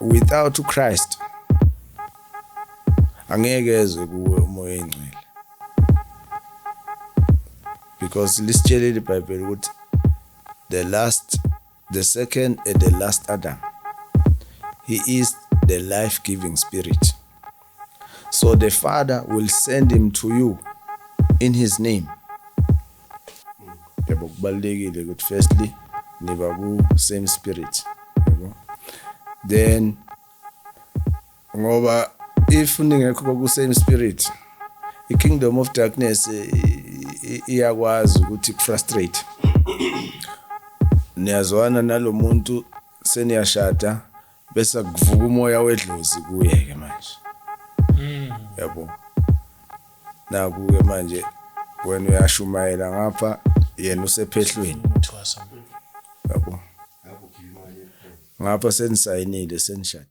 Without uChrist angeke eze kuwe umoya oyingcwele because lisitshelile iBhayibheli ukuthi the last the second and the last Adam he is the life giving spirit So the father will send him to you in his name. Yabo kubalulekile ukuthi firstly niba ku same spirit. Yabo. Then ngoba if ningekho ku same spirit i kingdom of darkness iyakwazi ukuthi frustrate. Niyazwana nalomuntu seniyashada Bese kuvuka umoya wedlozi kuye ke manje. Yabo. Naku ke manje wena uyashumayela ngapha yena usephehlweni. Yabo. Ngapha senisayinile senishadile.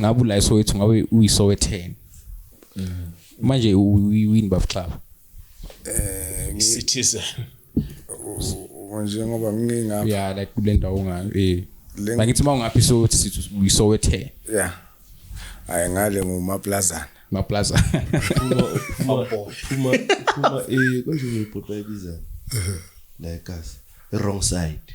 ngabe ula iSoweto ngabe uyiSowetheni manje uyiwini bafxaba eh ngicitizen njengoba ngingapha yeah like kule ndawo ngayo eh ngithi uma ungaphi so sithi uyisowethe yeah hayi ngale ngumaplazana maplaza phuma phuma phuma phuma eh konje ngibhotwa ibiza like us wrong side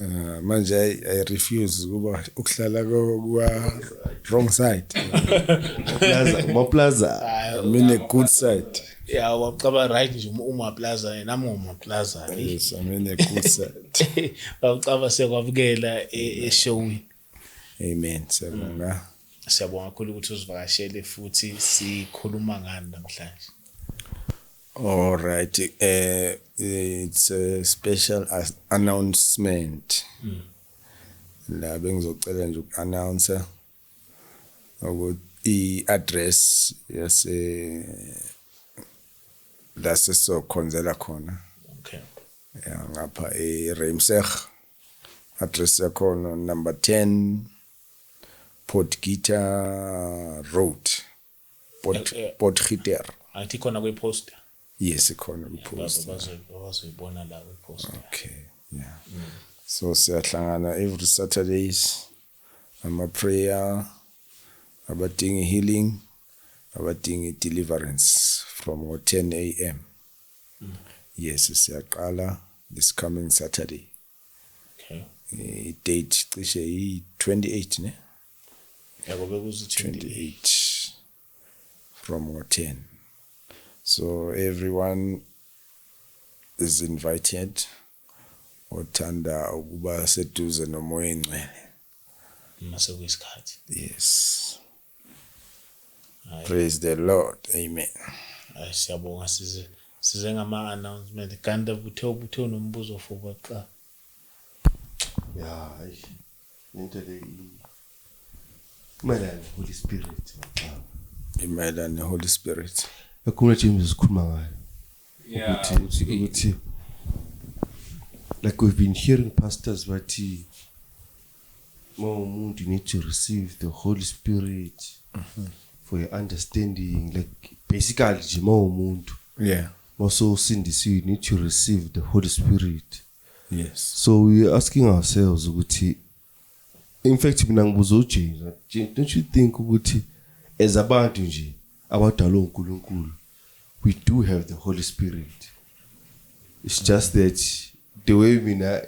Uh, manje I, I refuse kuba ukuhlala kwa wrong side. Plaza, mo plaza. I mean a good side. Yeah, wacaba right nje uma plaza yena ngoma plaza. Yes, I mean a good side. Wacaba sekwabukela e, e showini. Amen. Siyabonga. Mm. Siyabonga kakhulu ukuthi usivakashele futhi sikhuluma ngani namhlanje. All right. Uh, it's a special announcement. Mm. La bengizocela nje uku-announce ukuthi i-address yase la sizokhonzela khona. Okay. Ya ngapha e-Reimseg. Address yakhona number 10 Potgieter Road. Pot Eh, eh. Potgieter. angithi khona kwiposter Yes ikhona kwipost. bazoyibona la kwiposter Okay. Yeah. So siyahlangana every Saturdays ama prayer abadinga healing abadinga deliverance from 10 am. yes siyaqala this coming saturday okay eh, i-date cishe yi-28 ne yabo bekuzi-28 from ngo-10 so everyone is invited othanda ukuba seduze nomoya engcwele uma sekuyisikhathi yes Praise the Lord. Amen. Hayi siyabonga size size ngama announcement kanti kuthe ubuthe unombuzo for baxa. Ya, hayi. Into le i- imayelana ne-Holy Spirit. Baxa. Imayelana neHoly Spirit. Ekhuluma James sikhuluma ngayo. Yeah, ukuthi ukuthi ukuthi like we've been hearing pastors bathi Uma umuntu you need to receive the Holy Spirit mm -hmm. for your understanding like basically nje uma umuntu yeah also sindisiwe you need to receive the Holy Spirit yes so we are asking ourselves ukuthi in fact mina ngibuza uJesu don't you think ukuthi as abantu nje abadalwe uNkulunkulu we do have the holy spirit it's just that the way mina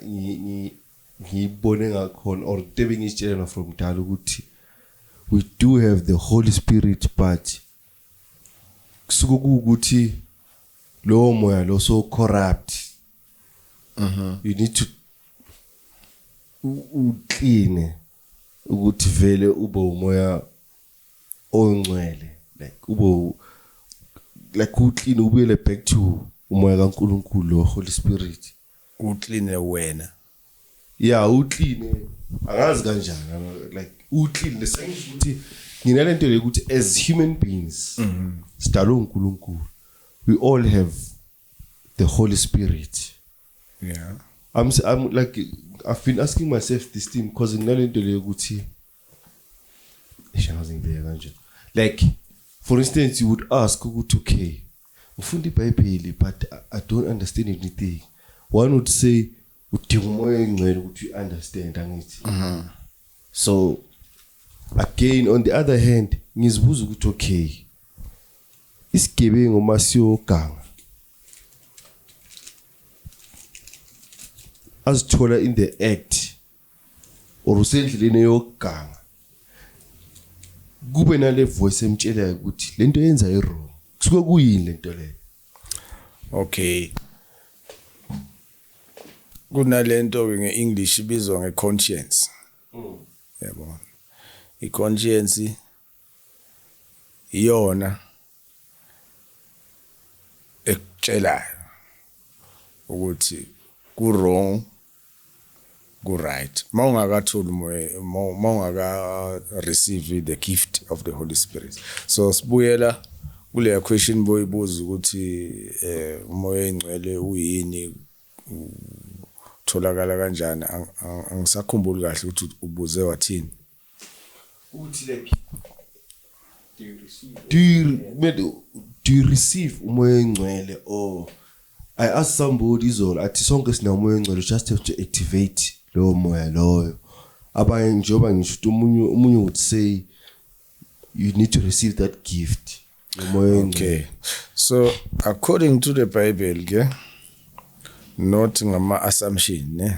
ngiyibone ngakhona or the bengitshelana from dala ukuthi we do have the holy spirit but kusuke ukuthi lowo moya lo so corrupt mhm you need to uclean ukuthi vele ube umoya oyingcwele like ube like u clean ubuyele back to umoya kaNkuluNkulu lo Holy Spirit u clean wena yeah u clean angazi kanjani like u clean lesengisho ukuthi ngina lento le ukuthi as human beings mhm. sidalwe uNkuluNkulu we all have the Holy Spirit yeah i'm i'm like i've been asking myself this thing because nginalento le ukuthi Ishazi ngibeka kanje. Like for instance you would ask ukuthi okay ngifunda iBhayibheli but I don't understand anything. One would say udinga umoya engcwele ukuthi you understand angithi. Mhm. So again on the other hand ngizibuza ukuthi okay isigebengu uma siyoganga azithola in the act or usendleleni yokuganga kube nale voice emtshelayo ukuthi lento yenza iwrong kusuke kuyini lento leyo okay kunalento ke ngeEnglish ibizwa ngeconscience mm. yabo iconscience iyona ekutshelayo ukuthi ku wrong ku right mawungakathuli moya mawungaka receive the gift of the holy spirit so sibuyela kule question boyibuza ukuthi eh umoya ingcwele uyini utholakala kanjani angisakhumbuli kahle ukuthi ubuze wathini do you, do you receive umoya engcwele or i ask somebody izolo athi sonke sinamoya engcwele just have to activate lowo moya loyo abanye njengoba ngisho ukuthi omunye omunye would say you need to receive that gift umoya okay so according to the bible ke not ngama assumption ne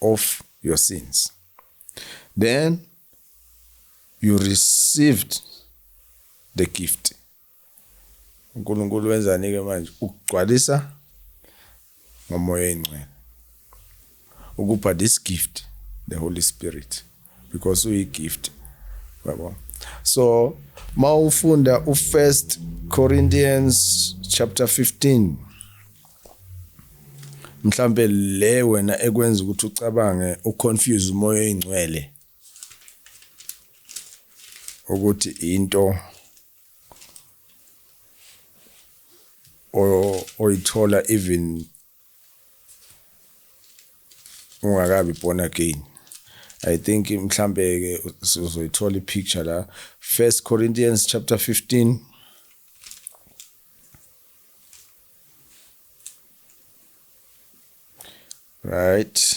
of your sins. Then you received the gift. uNkulunkulu wenzani-ke manje ukugcwalisa ngomoya oyingcwele ukupha this gift the holy spirit because uyi gift yabo so mawufunda u first Corinthians chapter 15 mhlambe le wena ekwenza ukuthi ucabange uconfuse umoya oyingcwele ukuthi into oyithola even ungakabi born again i think mhlambe ke uzoyithola ipicture la first corinthians chapter 15 right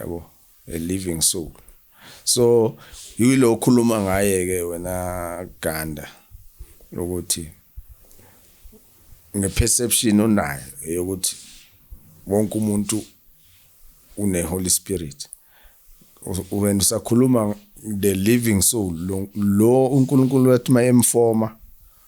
yabo a living soul so yilo okhuluma ngaye ke wena Ganda lokuthi ngeperception onayo eyokuthi wonke umuntu une Holy Spirit wena usakhuluma the living soul lo uNkulunkulu wathi mayemfoma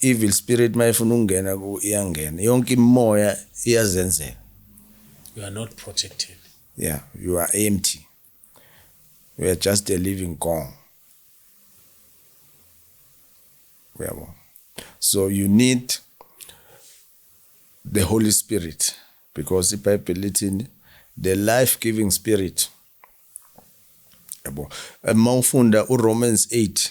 evil spirit mayifuna ukungena ku iyangena yonke imimoya iyazenzela you are not protected yeah you are empty you are just a living gong uyabo so you need the holy spirit because ibhayibheli lithini the life giving spirit yabo uma ufunda uromans 8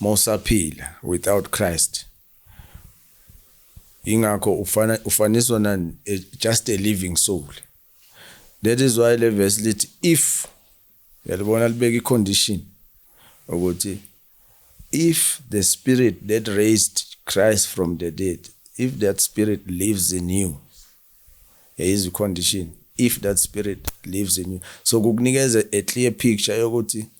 mawusaphila without Christ ingakho ufana ufaniswa na eh, just a living soul that is why le verse lithi if yalibona libeka icondition ukuthi if the spirit that raised Christ from the dead if that spirit lives in you is a condition if that spirit lives in you so kukunikeza a clear picture yokuthi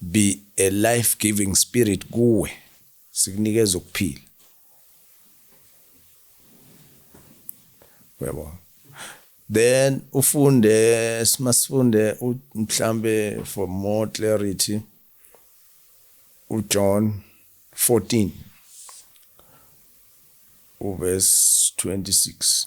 Be a life giving spirit kuwe sikunikeza ukuphila uyabo then ufunde simasifunde mhlambe for more clarity uJohn 14 uverse 26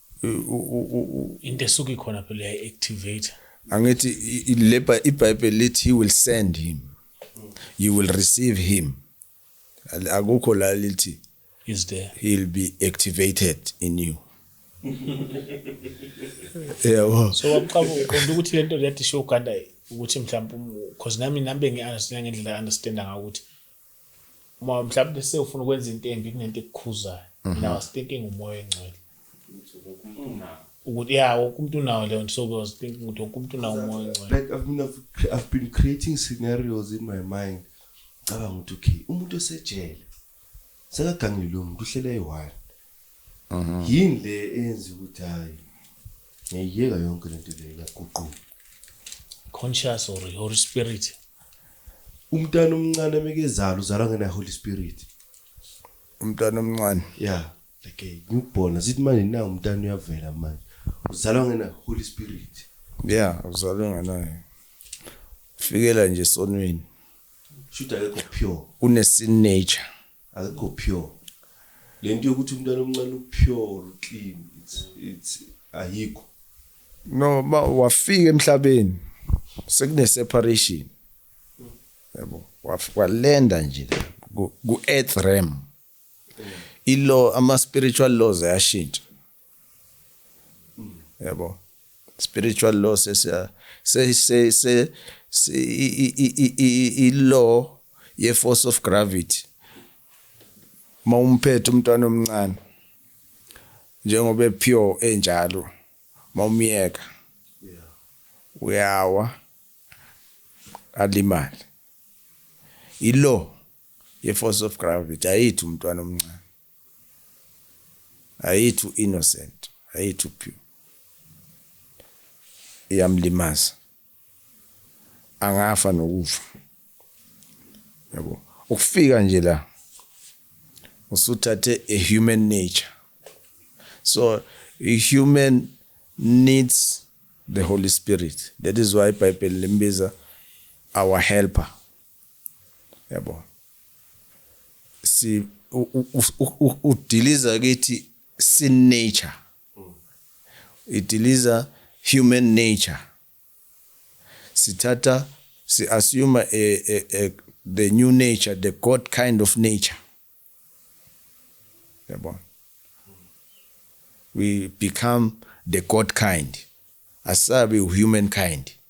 into esuke ikhona phela ya activate angithi le iBhayibheli lithi he will send him you will receive him akukho la lithi is there he'll be activated in you yebo so waqaba uqonda ukuthi lento lethi show Uganda ukuthi mhlawumbe because nami nambe ngiunderstand ngendlela understand ngakuthi uma mhlawumbe sewufuna ukwenza into embi kunento ekukhuzayo mina mhm. was thinking umoya engcwele ukuthi ya wonke umuntu unawo leyo nto so i was thinking ukuthi wonke umuntu unawo umoya engcwele like i've been i've been creating scenarios in my mind cabanga ukuthi okay umuntu esejele sekaganile lo muntu uhlele eyi-one yini le eyenza ukuthi hayi ngiyiyeka yonke lento le ngaguquka conscious or holy spirit umntana omncane mekezala uzalwa ngena holy spirit umntana omncane yeah like ngibona sithi manje na umntana uyavela manje uzalwa ngena holy spirit yeah uzalwa ngenayo fikela nje sonweni shuthi akekho pure unesin nature akekho pure lento yokuthi umntana omncane upure clean it's it's ayikho no ba wafika emhlabeni sekune separation yabo walenda nje ku earth realm ilo ama spiritual laws ayashintsha yabo spiritual law sesiya se se se i law ye force of gravity mawumphethe umntwana omncane njengoba epure enjalo mawumyeka uyawa alimali ilo ye force of gravity ayithu umntwana omncane Ayi too innocent. Ayi too pure. Iyamlimaza. Angafa nokufa. Yabo. Ukufika nje la usuthathe a human nature. So a human needs the Holy Spirit. That is why iBhayibheli limbiza our helper. yabo si udiliza kithi sin nature idiliza human nature sithatha si assume a, eh, a, eh, a, eh, the new nature the god kind of nature yabo we become the god kind asabi human kind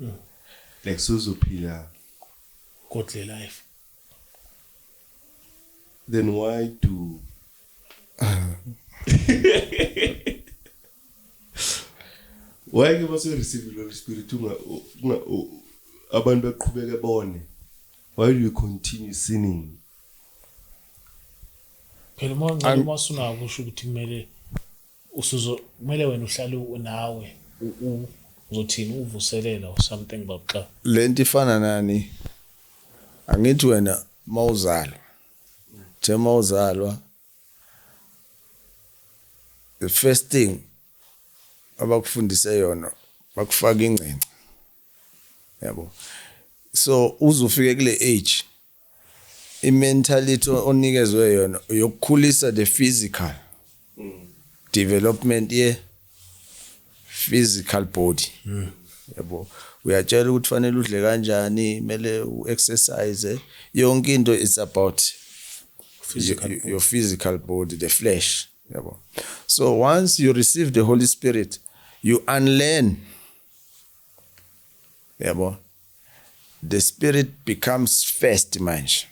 Mm. Like suzophila godly life. Then why do Why ke base receive lo spirit unga abantu baqhubeke bone. Why do you continue sinning? Phela manje uma usunako usho ukuthi kumele usuzo kumele wena uhlale unawe uzothini uvuselela or something babxa lento ifana nani angithi wena mawuzalwa the mawuzalwa the first thing abakufundise yona bakufaka ingcinci yabo so uzufike kule age I mentality onikezwe yona yokukhulisa the physical development ye physical body. Mm. Yabo. Uyatshela ukuthi fanele udle kanjani, mele uexercise. Yonke into is about physical your, your physical body, the flesh. Yabo. So once you receive the Holy Spirit, you unlearn. Yabo. the spirit becomes first manje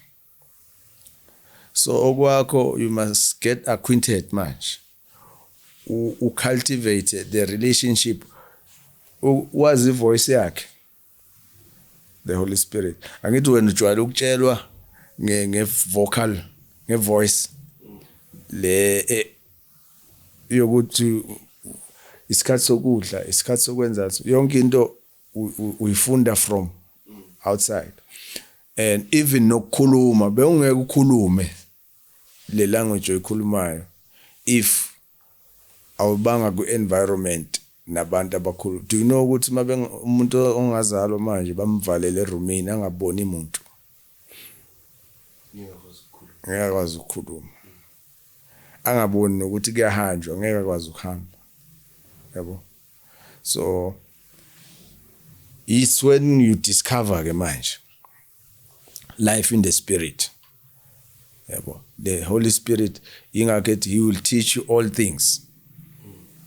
so okwakho you must get acquainted manje u cultivate the relationship wazi voice yakhe the holy spirit angithi wena ujwayele ukutshelwa nge nge vocal nge voice le e, yokuthi isikhathi sokudla isikhathi sokwenza yonke into uyifunda from outside and even nokukhuluma bewungeke ukhulume le language oyikhulumayo if awubanga ku environment nabantu abakhulu do you know ukuthi umuntu ongazalwa manje bamvalele eroomini angaboni muntu ngeke akwazi ukukhuluma angaboni nokuthi kuyahanjwa ngeke akwazi ukuhamba yabo so it's when you discover ke manje life in the spirit yabo the holy spirit ingakho ethi he will teach you all things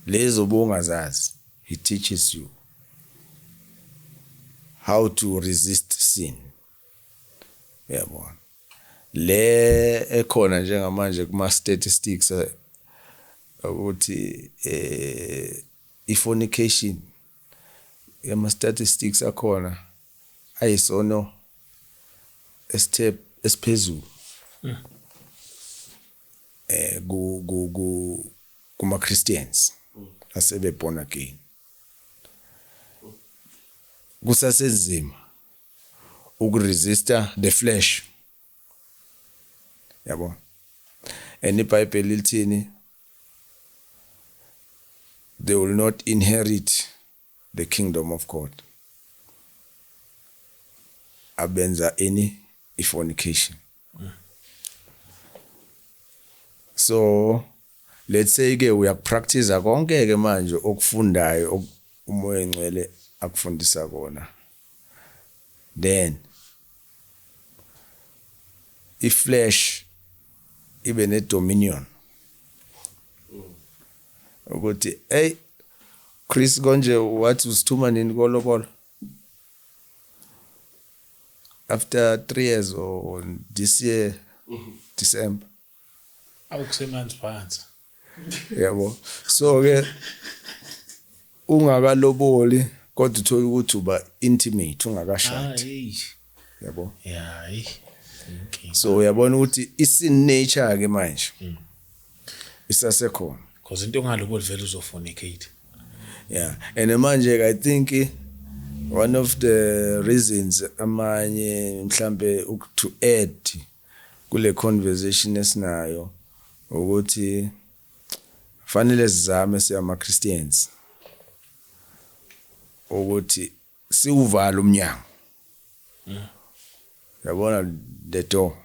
lezo bongazazi he teaches you how to resist sin uyabona le ekhona njengamanje kuma statistics eh, ukuthi eh i fornication ama statistics akhona ayisono esithe esiphezulu hmm. eh ku ku kuma Christians hmm. asebe born again kusasenzima ukuresista the flesh yabo and ibhayibheli lithini they will not inherit the kingdom of god abenza ini ifornication so let's say ke uyakupractice konke ke manje okufundayo umoya engcwele akufundisa kona then iflesh ibe ne dominion ukuthi hey Chris konje wathi usithuma nini kolobolo after three years or this year December. Awukusemanzi phansi. Yebo. So ke ungakaloboli kodwa uthola ukuthi uba intimate ungakashadi. Ah, yabo yeah so uyabona ukuthi isin nature ke manje hmm. isasekhona because into ongaloko livela uzofuna ikate yeah and manje i think one of the reasons amanye mhlambe to add kule conversation esinayo ukuthi fanele sizame siyama Christians ukuthi siwuvala umnyango yabona the door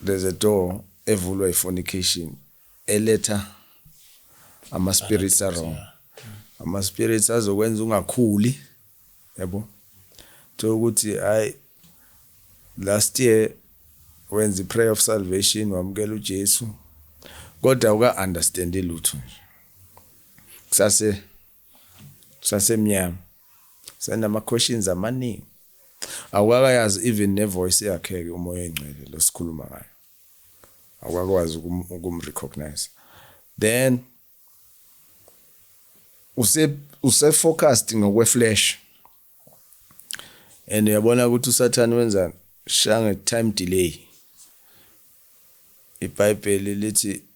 there's a door evulwa ifornication eletha ama spirits wrong ama spirits azokwenza ungakhuli yabo thola ukuthi hayi last year wenza iprayer of salvation wamukela uJesu kodwa uka understand lutho nje kusase kusasemnyama senama questions amaningi awukakayazi even ne voice yakhe ke umoya engcwele losikhuluma ngayo awukakwazi ukum recognize then use use focused ngokwe flash and uyabona ukuthi usathane wenzani shange time delay ibhayibheli lithi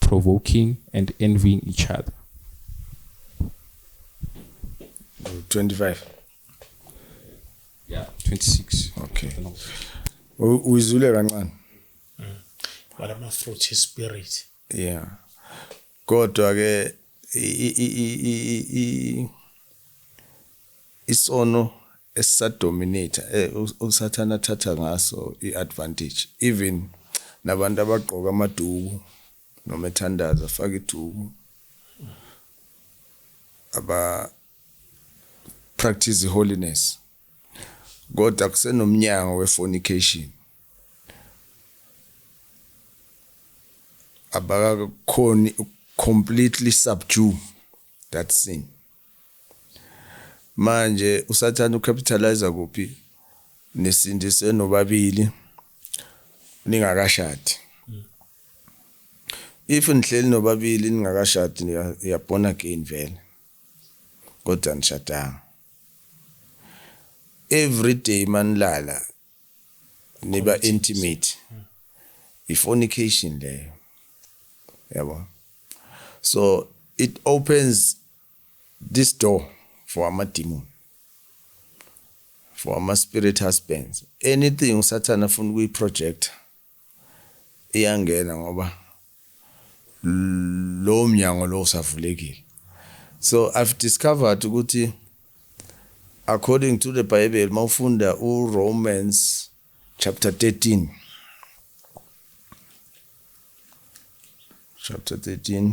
provoking and envying each other 25 yeah 26 okay uyizule kancane wala ma fruit spirit yeah kodwa ke isono esisadominator eh usathana thatha ngaso iadvantage even nabantu abagqoka amaduku noma ethandaza afaka iduku aba practice holiness Kodwa kusenomnyango wefornication. Abakakhoni completely subdue that sin. Manje usathana ucapitalize kuphi nisindise nobabili ningakashadi. If nihleli nobabili ningakashadi ya born again vele. Kodwa nishadanga. every day manilala niba intimate ifornication leyo yabo so it opens this door for ama demon for ama spirit husbands anything usathana afuna ukuyi project iyangena ngoba lowo mnyango lowo usavulekile so i've discovered ukuthi according to the bible mawufunda uromans chapter 13 chapter 13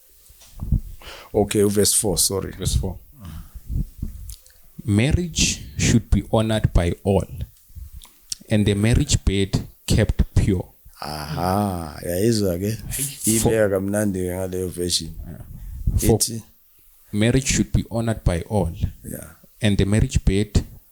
Okay, verse 4, sorry. Verse 4. Marriage should be honored by all, and the marriage bed kept pure. Aha, yayizwa ke. Ibeka kamnandi ke ngaleyo version. For Ithi marriage should be honored by all, yeah. and the marriage bed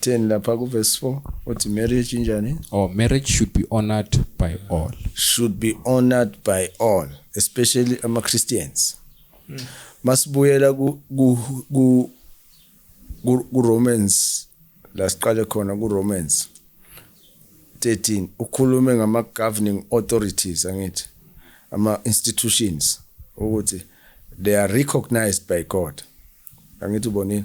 10 lapha ku verse 4 uthi marriage injani or marriage should be honored by all should be honored by all especially ama Christians mm. masibuyela ku ku ku Romans la siqale khona ku Romans 13 ukhulume ngama governing authorities angithi ama institutions ukuthi they are recognized by God angithi ubonile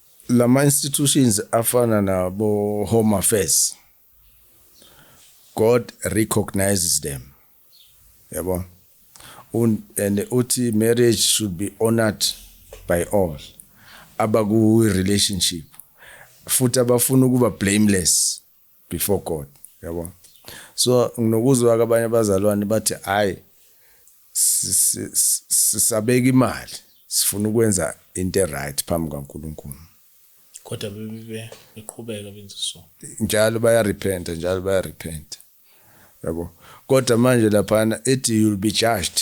Lama institutions afana nabo Home Affairs God recognizes them yabo and uthi marriage should be honored by all abaku relationship futhi abafuna ukuba blameless before God yabo so nginokuzwa ke abanye abazalwane bathi hayi sisabeka imali sifuna ukwenza into eright phambi kaNkuluNkulu kodwa bebe beqhubeka benza so njalo baya repent njalo baya repent yabo kodwa manje laphana ethi you'll be judged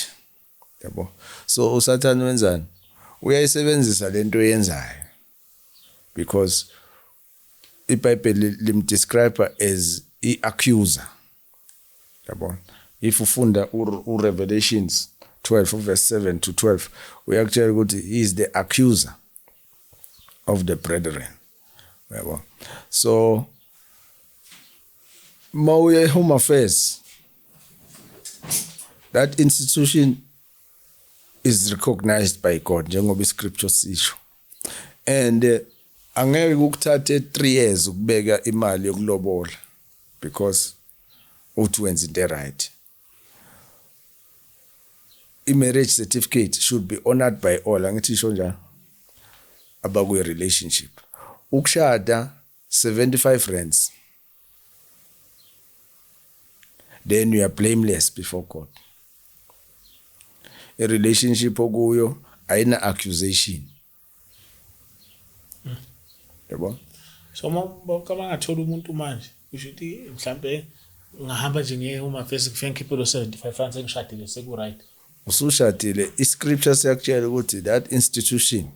yabo so usathane wenzani uyayisebenzisa lento yenzayo because iBhayibheli limdescribe as i-accuser yabona if ufunda uRevelations 12 verse 7 to 12 uyakutshela ukuthi he is the accuser of the brethren yabo so mawuye e-home affairs that institution is recognized by God njengoba iscripture sisho and eh, angeke ukuthathe 3 years ukubeka imali yokulobola because uthi wenza into right i marriage certificate should be honored by all angithi isho njalo abakwi relationship ukushada 75 rands then you are blameless before God a relationship okuyo ayina accusation yabo so mama ngathola umuntu manje usho ukuthi mhlambe ngahamba nje ngiye uma face kufike ngikhiphe lo 75 francs engishadile seku right usushadile i scripture siyakutshela ukuthi that institution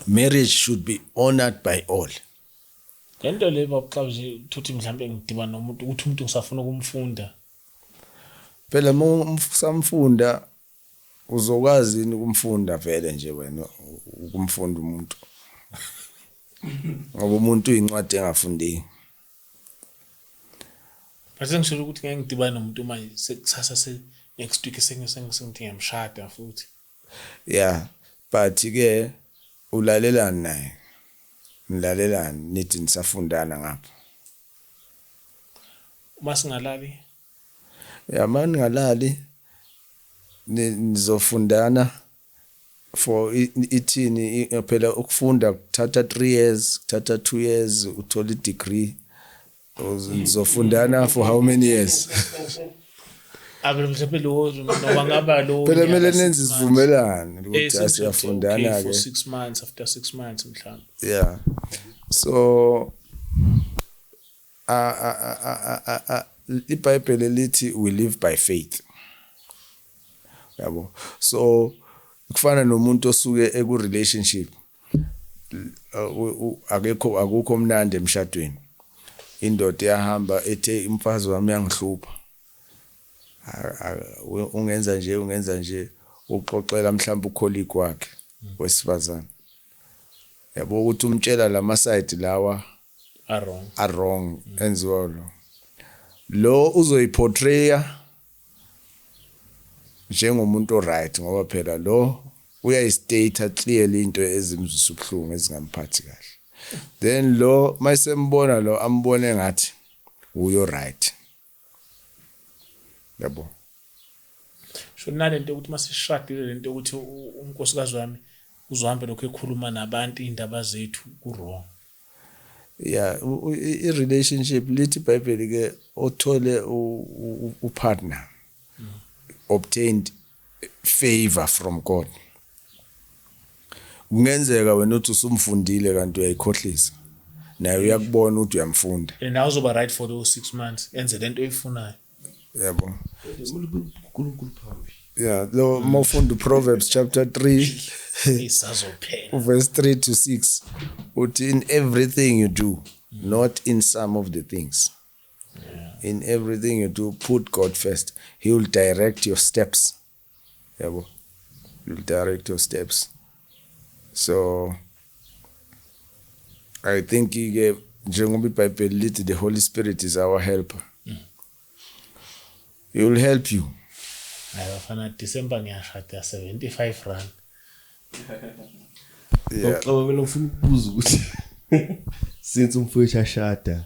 marriage should be honored by all le nto le babuxabuje thuthi mhlawumbe ngidibana nomuntu ukuthi umuntu ngisafuna ukumfunda phela uma usamfunda uzokwazi yini ukumfunda vele nje wena ukumfunda umuntu ngoba umuntu uyincwadi engafundeki base ngisholo ukuthi ngeke ngidibane nomuntu manje sekusasa se next week sengise ngise ngithi ngiyamshada futhi Ya but ke ulalelani naye nilalelani nithi nisafundana ngapho. Uma singalali. Ya uma ningalali nizofundana for ithini phela ukufunda kuthatha 3 years kuthatha 2 years uthola i degree Uzofundana for how many years? Abe mhlawumbe lo noma ngaba lo. Phela kumele nenze isivumelwano ukuthi eh, asiyafundana ke. For 6 months after 6 months mhlawumbe. Yeah. So a a a a a iBhayibheli lithi we live by faith. Yabo. So kufana nomuntu osuke eku relationship. akekho akukho mnandi emshadweni indoda iyahamba ethe umfazi wami uyangihlupha ungenza nje ungenza nje uxoxela mhlawumbe ukholiki kwakhe wesifazane yabo ukuthi umtshela lama side lawa are wrong are wrong enziwa lo lo uzoyiportrayer njengomuntu oright ngoba phela lo uyayistater clearly into ezimzwisa ubuhlungu ezingamphathi kahle then lo mayisembona lo ambone ngathi uyo right yabo sho nalento ukuthi masishadile lento ukuthi unkosikazi wami uzohambe lokho ekhuluma nabantu indaba zethu ku wrong ya i relationship lithi bible ke othole u partner obtained favor from God kungenzeka wena uthi usumfundile kanti uyayikhohlisa naye uyakubona ukuthi uyamfunda and awuzoba right for those 6 months enze lento oyifunayo yabo uNkulunkulu phambi yeah lo mofunda uProverbs chapter 3 isazophela uverse 3 to 6 uthi in everything you do not in some of the things in everything you do put God first he will direct your steps yabo will direct your steps so i think ke njengoba ibhayibheli lithi the holy spirit is our helper mm. he will help you hayi bafana december ngiyashada 75 rand yeah. uxabamela ufuna ukubuza ukuthi since umfowethu ashada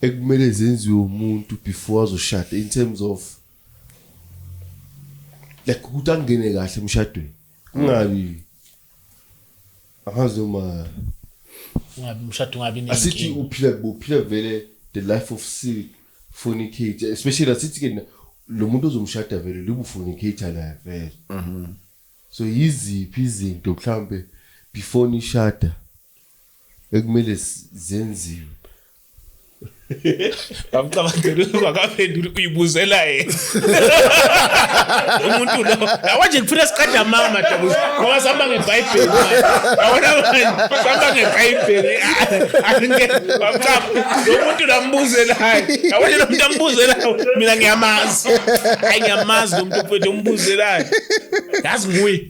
ekumele zenziwe umuntu before azoshada in terms of like ukuthi angene kahle emshadweni kungabi angazi noma ungabi umshado ungabi nenkinga asithi uphila uphila vele the life of sick fornicate especially asithi ke lo muntu ozomshada vele libufornicate la vele mhm. so yiziphi izinto mhlambe before nishada ekumele zenziwe bamcabangela ukuba akaphenduli uyibuzela yena umuntu lo awanje ngifuna siqeda mama dabuza ngoba sihamba ngebhayibheli awona manje sihamba ngebhayibheli angeke bamcaba lo muntu lambuzelayo awanje lo muntu ambuzelayo mina ngiyamazi ayi ngiyamazi lo muntu mfethu umbuzelayo yazi nguye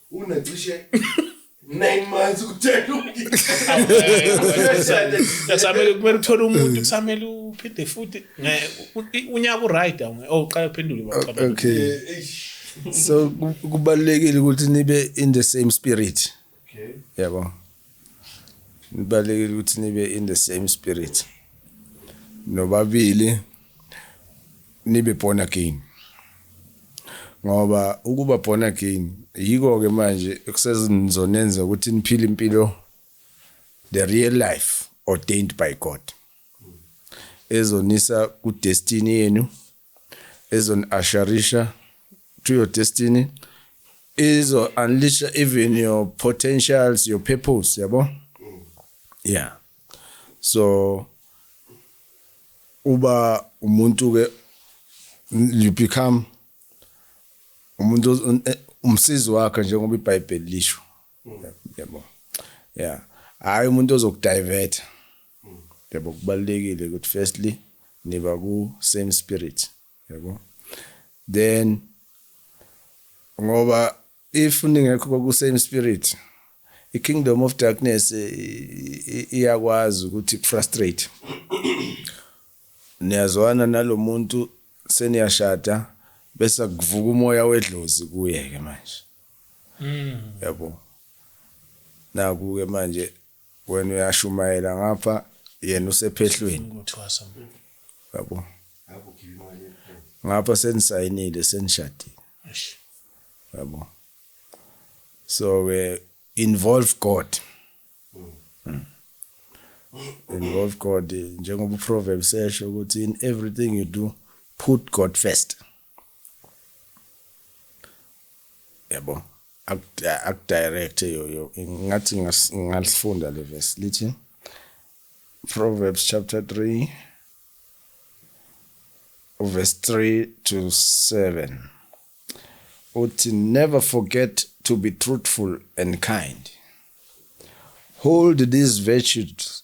unacishe 9 months ukutshela uyasamele kumele uthole umuntu kusamele uphinde futhi unyaka uright awuqala oh, uphendule baqaba okay eh, so kubalekile ukuthi nibe in the same spirit okay yabo yeah, nibalekile ukuthi nibe in the same spirit nobabili nibe born again ngoba ukuba born again yiko ke manje ekusezonenza ukuthi niphile impilo the real life ordained by God ezonisa ku destiny yenu izon asharisha to your destiny izo unleash even your potentials your purpose yabo yeah so uba umuntu ke you become umuntu umsizi wakhe njengoba iBhayibheli lisho yabo yeah hayi umuntu ozokudivert yabo kubalekile ukuthi firstly niba ku same spirit yabo then ngoba if ningekho ku same spirit i kingdom of darkness iyakwazi ukuthi frustrate niyazwana nalomuntu seniyashada bese kuvuka umoya wedlozi kuye ke manje Yabo. Naku ke manje wena uyashumayela ngapha yena usephehlweni. Ngothwasa mfo. Yabo. Ngapha senisayinile senishadile. Eish. Yabo. So ke involve God. Involve God njengoba uProverbs esho ukuthi in everything you do put God first. yabo akudirect yoyo ngathi ngalifunda le verse lithi Proverbs chapter 3 verse 3 to 7 uthi never forget to be truthful and kind hold these virtues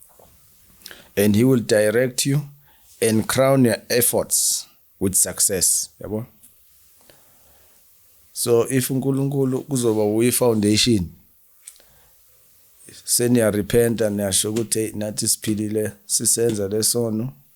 and he will direct you and crown your efforts with success yabo so if uNkulunkulu kuzoba uyi foundation seniyarepenta niyasho ukuthi nathi siphilile sisenza lesono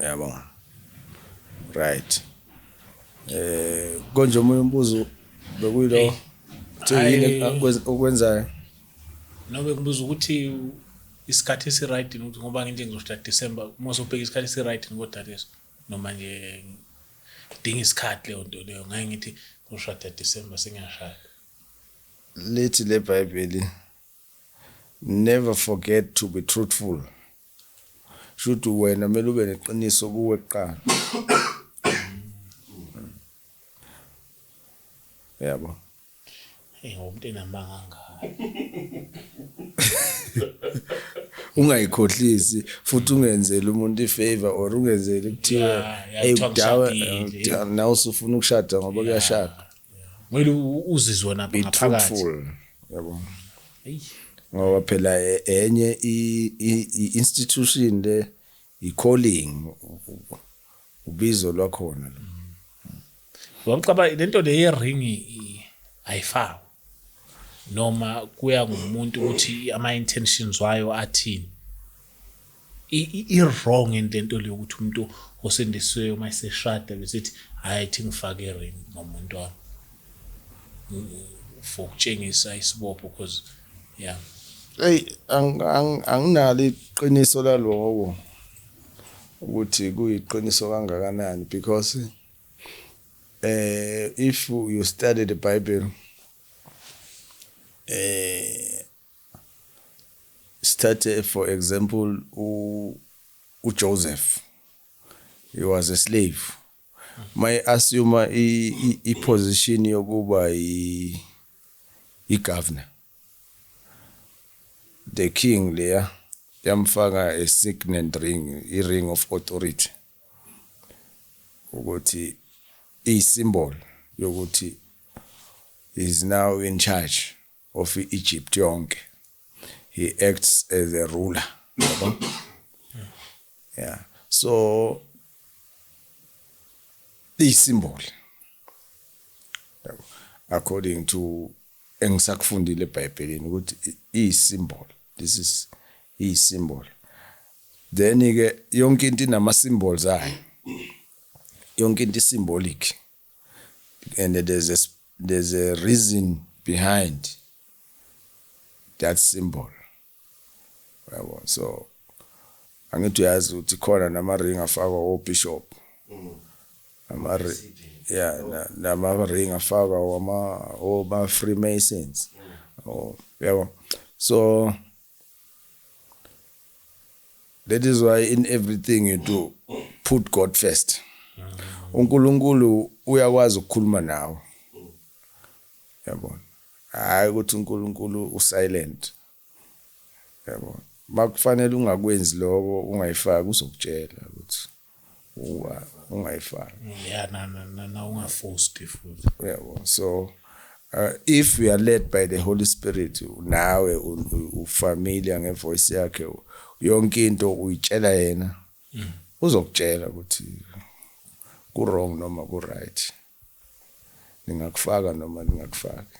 Yabo. Right. Eh konje omunye umbuzo bekuyilo ukuthi yini okwenzayo? Nobe kubuza ukuthi isikhathi esiright ukuthi ngoba nginje ngizoshada December uma sobheka isikhathi esiright kodwa leso noma nje idinga isikhathi leyo nto leyo ngeke ngithi ngizoshada December sengiyashada lithi le bible never forget to be truthful Shuthi wena kumele ube neqiniso kuwe kuqala. Yabo. Hey ngomuntu enamanga ngaka. Ungayikhohlisi futhi ungenzele umuntu ifavor or ungenzele kuthiwa hey udawa now usufuna ukushada ngoba kuyashada. kumele uzizwe wena ngaphakathi yabo ngoba phela e, enye i-institution le i-calling ubizo lwakhona lo wamcaba lento le ye-ring ayifakwa noma kuya ngumuntu ukuthi ama-intentions wayo athini i-wrong into into leyo ukuthi umuntu osendisiweyo uma eseshada besithi hhayi ithi ngifake i-ring ngomuntu wami for ukutshengisa isibopho because yeah hey anginalo iqiniso laloko ukuthi kuyiqiniso kangakanani because eh if you study the bible eh Sithathe for example u uJoseph. He was a slave. My assume i position yokuba i i governor. The king leya yamfaka a signet ring, i ring of authority. Ukuthi i symbol yokuthi is now in charge. of Egypt yonke he acts as a ruler yabo yeah so isimboli yabo according to engisakufundile eBhayibhelini ukuthi isimboli this is isimboli then ke yonke into inama symbols ayo yonke into isimbolic and there's a, there's a reason behind that symbol yabo so angithi uyazi ukuthi khona nama-ring afakwa obishop mm. ama yeah oh. nama-ring afakwa oma-freemasons mm. oh, yabo so That is why in everything you do, put God first. uNkulunkulu uyakwazi ukukhuluma nawe. Yabona. Hayi ukuthi uNkulunkulu usilent. Yabona. Makufanele ungakwenzi lokho ungayifaki uzokutshela ukuthi ungayifaki yeah na na na ungafosti futhi yebo so uh, if we are led by the holy spirit nawe ufamily ngevoice yakhe yonke into uyitshela yena mm. uzokutshela ukuthi ku wrong noma ku right ningakufaka noma ningakufaki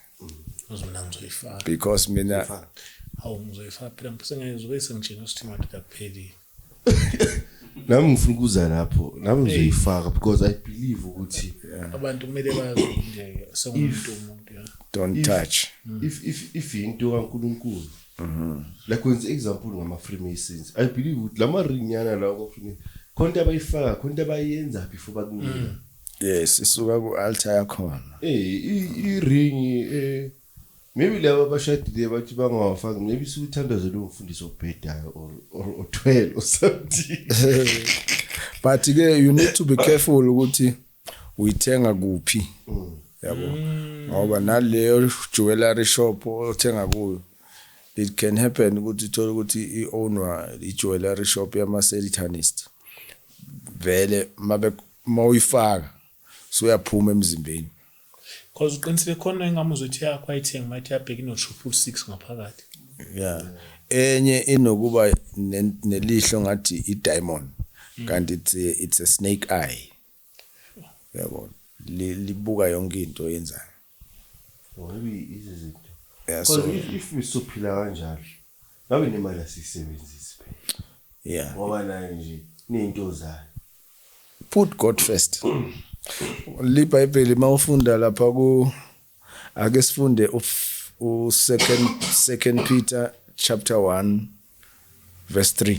uze mina ngizoyifaka because mina hawu ngizoyifaka phela ngiphethe ngeke zobe sengitshela ukuthi imali kakuphelile nami ngifuna ukuza lapho nami ngizoyifaka because i believe ukuthi abantu kumele bazi nje sengumuntu umuntu ya don't If- touch if if if into kaNkuluNkulu like wenza example ngama Freemasons i believe ukuthi lama ring yana lawo kwa Freemasons khona into abayifaka khona into abayenza before bakunika yes isuka ku altar yakhona eh i ring eh maybe laba abashadile bathi bangawafaki maybe sikuthandaze lo mfundisi obhedayo or or othwele or something but ke you need to be careful ukuthi uyithenga kuphi mm. yabo mm. ngoba naleyo jewelry shop othenga kuyo it can happen ukuthi uthole ukuthi i-ownwa i-jewelry shop yama-selitanist vele mabe Uma uyifaka suyaphuma emzimbeni. Cause uqinisile khona engamuzwa ethi yakho ayithenge mathi yabheka ino triple six ngaphakathi. Yeah. Enye inokuba nelihlo ngathi i diamond mm. kanti it's a, it's a snake eye. Yabo. Libuka yonke into oyenzayo. yeah, so, if usuphila kanjalo ngabe nemali asiyisebenzisi phela yeah ngoba nayo nje nento zayo put god first libhayibheli mawufunda lapha ku ake sifunde u second second peter chapter 1 verse 3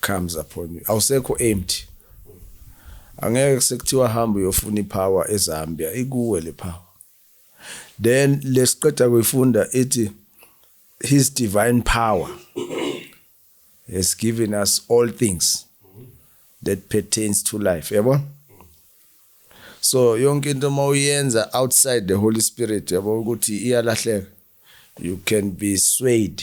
comes upon you awusekho empty angeke sekuthiwa hamba uyofuna ipower eZambia ikuwe le power then lesiqeda kuyifunda ithi his divine power has given us all things that pertains to life yabo so yonke into uma uyenza outside the holy spirit yabo ukuthi iyalahleka you can be swayed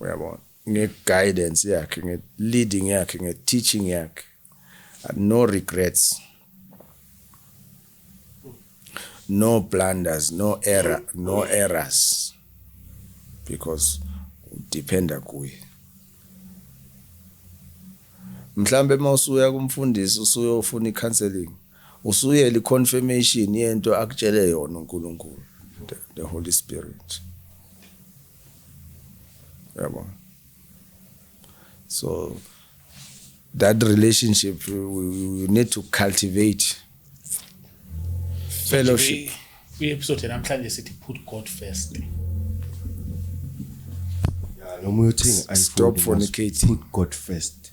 uyabona nge-guidance yakhe nge-leading yakhe nge-teaching yakhe no regrets no blunders no error no errors because udependa kuye mhlambe uma usuya kumfundisi usuyofuna i-counseling Usuyele i confirmation yento akutshele yona uNkulunkulu the, the Holy Spirit. Yabo. So that relationship you, you need to cultivate fellowship. Kwi episode namhlanje sithi put God first. Yeah, noma uyothini I stop fornicating. Put God first.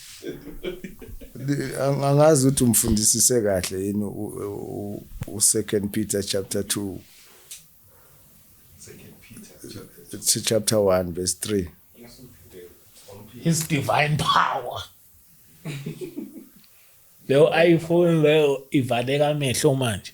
angazi ukuthi umfundisise kahle yini u-second peter chapter 2 chapter 1 verse 3 his divine power leyo iphone leyo ivaleka amehlo manje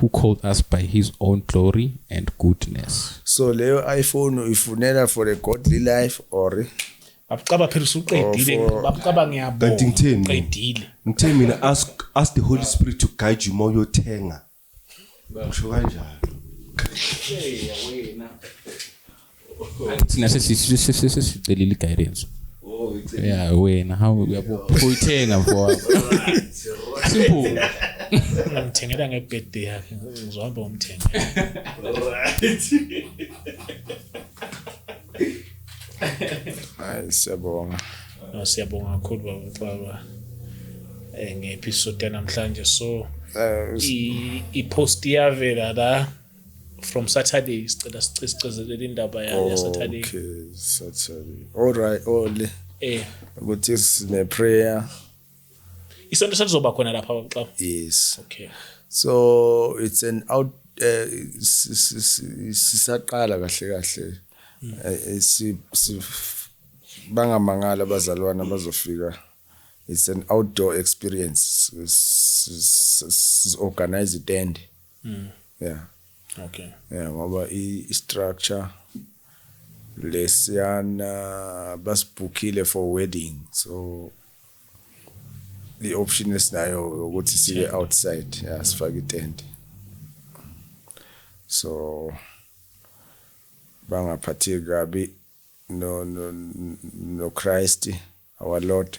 who called us by his own glory and goodness so leyo iphone uyifunela for a godly life or babucaba phela usuqedile oh, babucaba ngiyabona kanti ngitheni qedile ngithe mina ask ask the holy spirit to guide you more yothenga usho kanjalo thina sesicelile i-guidance oh, ya wena hawu uyabo uyithenga mfowabo simple ngithengela ngebirthday yakhe uzohamba umthenga hayi siyabonga no siyabonga kakhulu baba baba eh, nge-episode yanamhlanje so eh, i-post iyavela la from Saturday sicela sicezelela indaba ya Saturday okay Saturday all right all eh ukuthi sine prayer isonto selizoba khona lapha xa yes okay so it's an out eh, sisaqala kahle kahle hmm. eh, si bangamangala abazalwana bazofika it's an outdoor experience siorganize itende mm. yeah okay yeah ngoba i structure lesiyana basibhukile for wedding so the option esinayo ukuthi sibe outside yeah mm. sifake itent so bangaphatheki kabi no no no Christ our Lord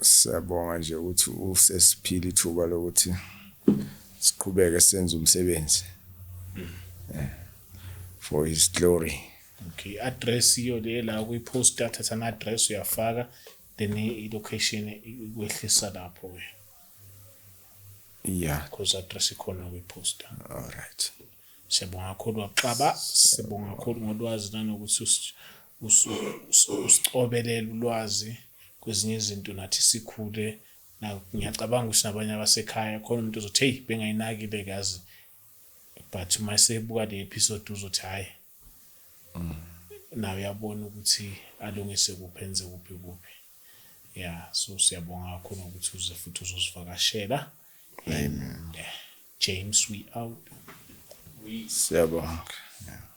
Siyabonga nje ukuthi usesiphile ithuba lokuthi siqhubeke senze umsebenzi eh, for his glory. Okay, address iyo le la kwi-post athatha ama-address uyafaka then i-location ikwehlisa lapho ke yeah because address ikhona kwi-posta all right siyabonga kakhulu waxaba sibonga kakhulu ngolwazi nanokuthi usucobelele ulwazi kwezinye izinto nathi sikhule ngiyacabanga ukuthi nabanye abasekhaya khona umuntu ozothi heyi bengayinakile kazi but uma sebuka le episode uzothi hhayi mm. nawe uyabona ukuthi alungise kuphi enze kuphi kuphi ya so siyabonga kakhulu ngokuthi uze futhi uzosivakashela and uh, james we out siyabonga